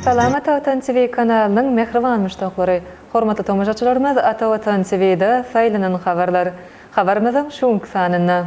Salamat Watan TV kanalynyň mähriban muşdaklary! Hormatly tomaşaçylarymyz Ata Watan TV-de saýlanan habarlar. Habarymyzyň şu günki sanynda.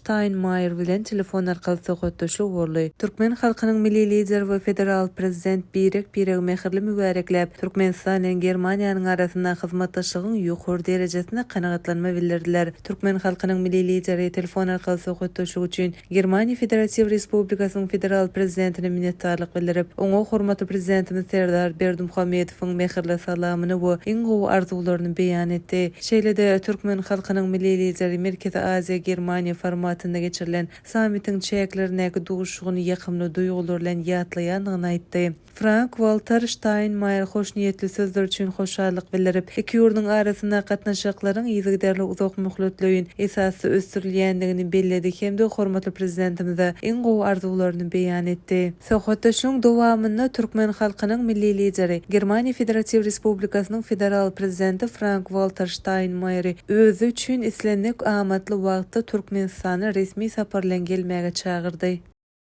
Steinmeier bilen telefon arkaly söhbetdeşlik boldy. Türkmen halkynyň Milli Lideri we Federal Prezident birek-biregi mähirli mübärekläp, Türkmenistan bilen Germaniýanyň arasynda hyzmatdaşlygyň ýokary derejesine kanagatlanma bildirdiler. Türkmen halkynyň Milli Lideri telefon arkaly söhbetdeşlik üçin Germaniýa Federatiw Respublikasynyň Federal Prezidentine minnetdarlyk bildirip, oňa hormatly Prezidentimiz Serdar Berdimuhamedowyň mähirli salamyny we iň gowy arzuwlaryny beýan etdi. Şeýle-de, türkmen halkynyň Milli Lideri Merkezi Aziýa, Germaniýa formatynda geçirilen sammitiň çäklerindäki duşuşygyny ýakymly duýgular bilen ýatlaýandygyny aýtdy. Frank-Walter Ştaýnmaýer hoşniýetli sözler üçin hoşallyk bildirip, iki ýurduň arasyndaky gatnaşyklaryň yzygiderli uzakmöhletleýin esasda ösdürilýändigini belledi hem-de hormatly Prezidentimize iň gowy arzuwlaryny beýan etdi. Söhbetdeşligiň dowamynda türkmen halkynyň Milli Lideri, Germaniýa Federatiw Respublikasynyň Federal Prezidenti Frank-Walter Ştaýnmaýeri özi üçin islendik amatly wagtda Türkmenistana resmi sapar bilen gelmäge çagyrdy.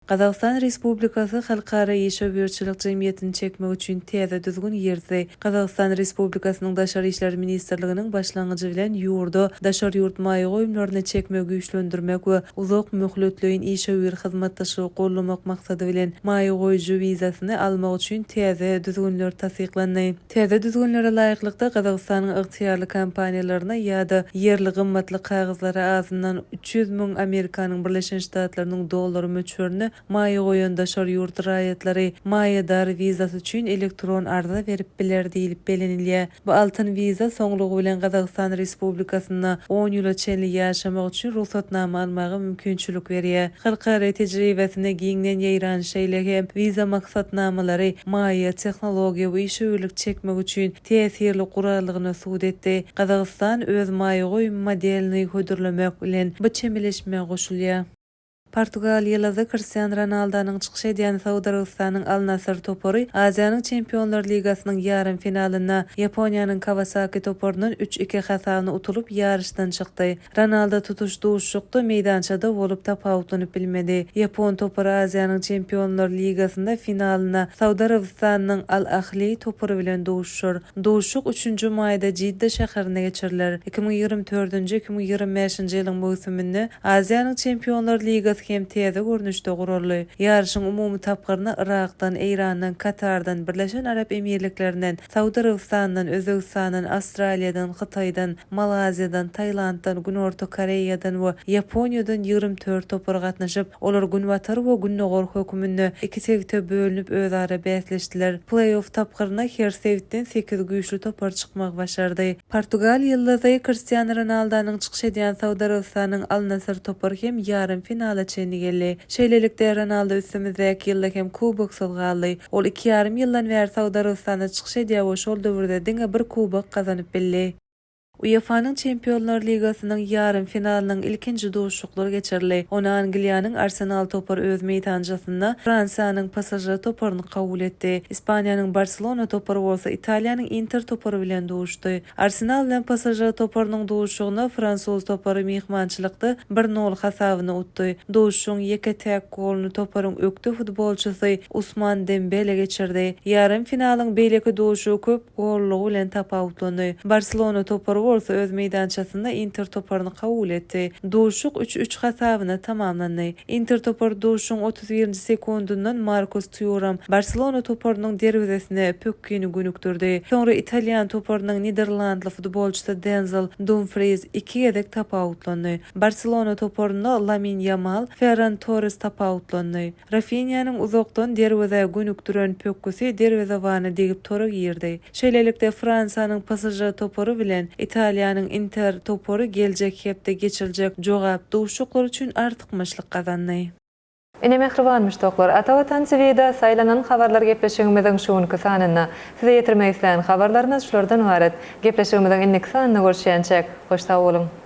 Gazagystan Respublikasy halkara işewürçilik jemgyýetini çekmek üçin täze düzgün girdi. Gazagystan Respublikasynyň Daşary işler ministrliginiň başlangyjy bilen ýurda daşary ýurt maýa goýumlaryny çekmegi güýçlendirmek we uzak möhletleýin işewür hyzmatdaşlygy goldamak maksady bilen, maýa goýujy wizasyny almak üçin täze düzgünler tassyklandy. Täze düzgünlere laýyklykda, Gazagystanyň ygtyýarly kompaniýalaryna ýa-da ýerli gymmatly kagyzlara azyndan üç ýüz müň Amerikanyň Birleşen Ştatlarynyň dollary möçberinde Maýa goýan daşary ýurt raýatlary maýadar wizasy üçin elektron arza berip biler diýlip bellenilýär. Bu altyn wiza soňlugy bilen Gazagystan Respublikasynda on ýyla çenli ýaşamak üçin rugsatnama almaga mümkinçilik berýär. Halkara tejribesinde giňden ýaýran, şeýle hem wiza maksatnamalary maýa, tehnologiýa we işewürlik çekmek üçin täsirli guraldygyny subut etdi. Gazagystan öz maýa goýum modelini hödürlemek bilen bu çemeleşmä goşulýar. Portugaliýalyda Kristian Ronaldonyň çykyş edýän Saud Arabystanyň Al-Nassr topary Aziýanyň Çempionlar ligasynyň ýarym finalynda Ýaponiýanyň Kawasaki toparyndan üç iki hasabna utulyp, ýaryşdan çykdy. Ronaldo tutuş duşuşykda meýdançada bolup, tapawutlanyp bilmedi. Ýapon topary Aziýanyň Çempionlar ligasynda finalynda Saud Arabystanynyň Al-Ahli topary bilen duşuşar. Duşuşyk üçünji maýda Jidda şäherinde geçiriler. Iki müň ýigrimi dördünji-iki müň ýigrimi bäşinji ýylyň möwsüminde Aziýanyň Çempionlar ligasy hem täze görnüşde guraldy. Ýaryşyň umumy tapgyryna Yrakdan, Eýrandan, Katardan, Birleşen Arap Emirliklerinden, Saud Arabystanyndan, Özbegistandan, Awstraliýadan, Hytaýdan, Malaýziýadan, Tailanddan, Günorta Koreýadan we Ýaponiýadan ýigrimi dört topar gatnaşyp, Olar Günbatar we Gündogar höküminde iki sebite bölünip özara bäsleşdiler. Pleý-off tapgyryna her sebitden sekiz güýçli topar çykmagy başardy. Portugal ýyldyzy Kristiano Ronaldonyň çykyş edýän Saud Arabystanynyň Al-Nassr topary hem ýarym finala çenli geldi. Şeýlelikde, Ronaldo üstümizdäki ýylda hem kuboksyz galdy. Ol iki ýarym ýyldan bäri Saud Arabystanda çykyş edýär we şol döwürde diňe bir kubok gazanyp bildi. UEFA-nyň Çempionlar ligasynyň ýarym finalynyň ilkinji duşuşyklary geçirildi. Ony Angliýanyň Arsenal topary öz meýdançasynda Fransiýanyň PSŽ toparyny kabul etdi. Ispaniýanyň Barselona topary bolsa Italiýanyň Inter topary bilen duşdy. Arsenal bilen PSŽ toparynyň duşuşygynda fransuz topary myhmançylykda bir nol hasabyna utdy. Duşuşygyň ýeke täk goluny toparyň ökde futbolçysy Usman Dembele geçirdi. Ýarym finalyň beýleki duşuşygy köp gollugy bilen tapawutlandy. Barselona topary bolsa öz meýdançasynda Inter toparyny kabul etdi. Duşuşyk üç-üç hasabyna tamamlandy. Inter topary duşuşygyň otuz birinji sekundyndan Markus Tuýram Barselona toparynyň derwezesine pökgini gönükdirdi. Soňra italýan toparynyň niderlandly futbolçysy Denzel Dumfriýs iki gezek tapawutlandy. Barselona toparynda Lamin Ýamal, Ferran Torres tapawutlandy. Rafinýanyň uzakdan derwezä gönükdiren pökgüsi derwezewana degip tora girdi. Şeýlelikde, Fransiýanyň PSŽ topary bilen Italiýanyň Inter topary geljek hepde geçiriljek jogap duşuşyklar üçin artykmaçlyk gazandy. Ine mähriban muşdaklar, Ata Watan TV-da Saýlanan habarlar gepleşigimiziň şu günki sanynda. Size ýetirmek isleýän habarlarymyz şulardan ybarat. Gepleşigimiziň indiki sanynda görüşýänçäk, hoş sag boluň!